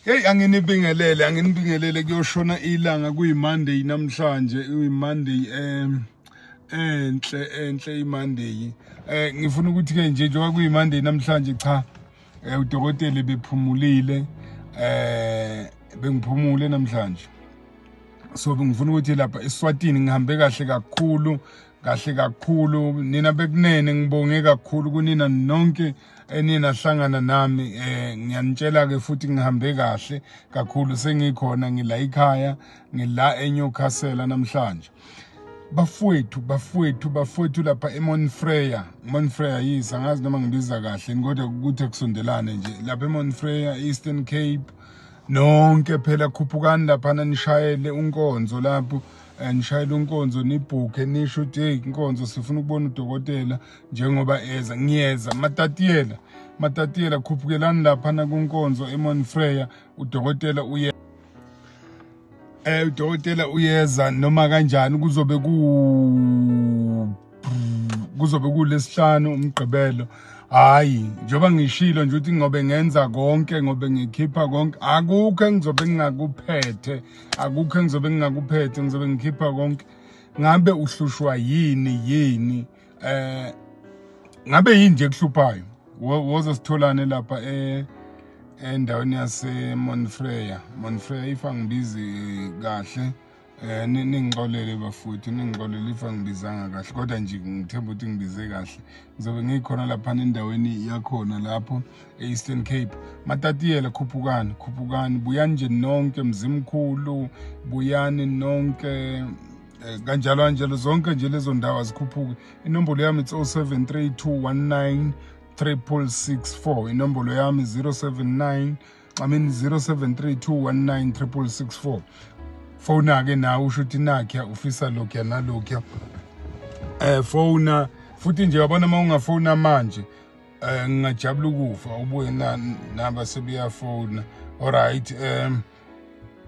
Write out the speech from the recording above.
Hey anginibingelele anginibingelele kuyoshona ilanga kuyiMonday namhlanje uyiMonday em enhle enhle iMonday eh ngifuna ukuthi ke nje njengoba kuyiMonday namhlanje cha eh, udokotela bephumulile eh bengiphumule namhlanje so ngifuna ukuthi lapha eSwatini ngihambe kahle kakhulu kahle kakhulu nina bekunene ngibonge kakhulu kunina nonke eniye nahlangana nami eh ngiyanitshela ke futhi ngihambe kahle kakhulu sengikhona ngila ikhaya ngila eNewcastle namhlanje bafowethu bafowethu bafowethu lapha eMonfreya Monfreya yes angazi noma ngibiza kahle kodwa ukuthi akusondelane nje lapha eMonfreya Eastern Cape nonke phela khuphukani lapha nishayele unkonzo lapho eh, nishayele unkonzo nibhukhe nisho ukuthi hey inkonzo sifuna ukubona udokotela njengoba eza ngiyeza matatiyela matatiyela khuphukelani laphana kunkonzo emonfreya udokotela uye eh udokotela uyeza noma kanjani kuzobe ku kuzobe kulesihlanu umgqibelo hayi njengoba ngishilo nje ukuthi ngobe ngenza konke ngobe ngikhipha konke akukho engizobe ngingakuphethe akukho engizobe ngingakuphethe ngizobe ngikhipha konke ngabe uhlushwa yini yini eh ngabe yini nje kuhluphayo woza sitholane lapha eh endaweni yase Monfreya Monfreya if angibizi kahle eh ningixolele bafuthi ningixolele if angibizanga kahle kodwa nje ngithemba ukuthi ngibize kahle ngizobe ngikhona lapha endaweni yakhona lapho e-Eastern Cape matatiyela khuphukani khuphukani buyani nje nonke mzimkhulu buyani nonke Eh, kanjalo kanjalo zonke nje lezo ndawo azikhuphuki inombolo yami it's 073219 664 inombolo yami 079 I mean 0732196664 fona ke nawe usho ukuthi nakhe ufisa lokho nalokho eh fona futhi nje yabona uma ungafona manje eh ngingajabula ukufa ubuye na naba sebeyafona all right um